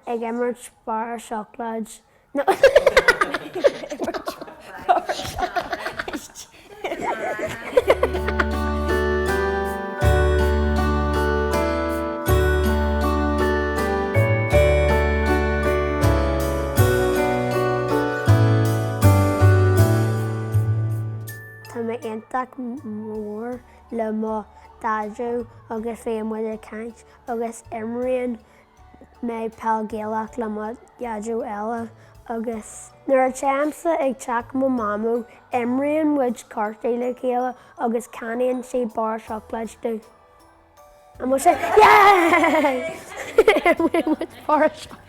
ag imirt barra seacláid No. Tá mé iontach mór le mo Dhaideo agus bíonn muid ag caint agus imríonn mé Peil Gaelach le mo dhaideo eile agus nuair atáimse ag teach mo mhamó imríonn muid cártaí le chéile agus ceannaíonn sí barra seacláid dom. Mamó sin yeah! imríonn muid barra seacláid.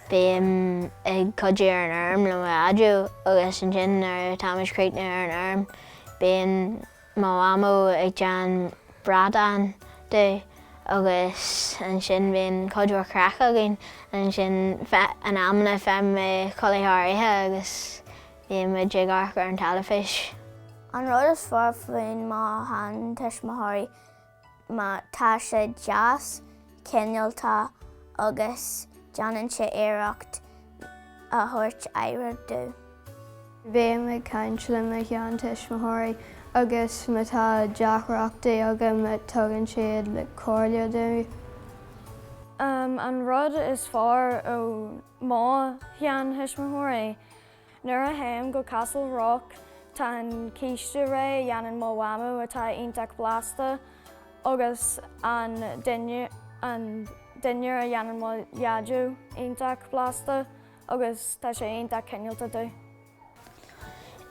Bím ag cuidiú ar an fheirm le mo dhaideo agus ansin nuair atá muid críochnaithe ar an fheirm bíonn Mo mhamó ag déanamh bradán dom agus ansin bíonn cuid mhór craic againn ansin in amanna faighim mé codladh thar oíche agus bíonn muid ag amharc ar an teilifís. An rud is fearr faoi mo sheantuismitheoirí ná tá sé deas cineálta agus déanann sé iarracht a thabhairt aire dom. Bím ag caint le mo sheantuismitheoirí agus má tá deacrachtaí agam tugann siad comhairle dom. An rud is fearr ó mo sheanthuismitheoirí Nuair a théim go Castle Rock tá an císte réidh a dhéanann mo mhamó atá iontach blasta agus an dinnéar a dhéanann mo dhaideo iontach blasta agus tá sé iontach cineálta dom.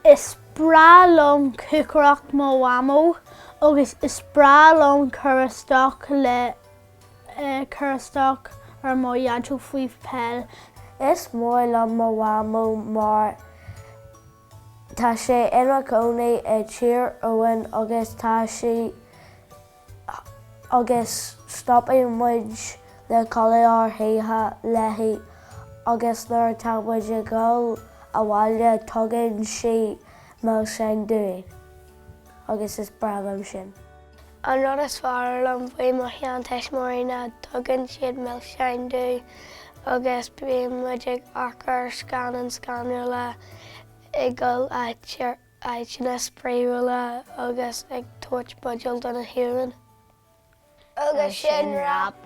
Is breá liom cócaireacht mo mhamó agus is breá liom cur isteach le ag cur isteach ar mo dhaideo faoi peil. Is mór liom mo mhamó mar tá sé ina cónaí i dTír Eoghain agus tá sí agus stopaidh muid le codladh thar oíche léi agus nuair atá muid ag dhul abhaile tugann sí milseáin dúinn agus is breá liom sin. An rud is fearr liom faoi mo sheantuismitheoirí ná tugann siad milseáin dom agus bíonn muid ag amharc ar scannáin scanrúla, ag dul áiteanna spraíúla agus ag tabhairt buidéil do na huain. Agus sin wrap!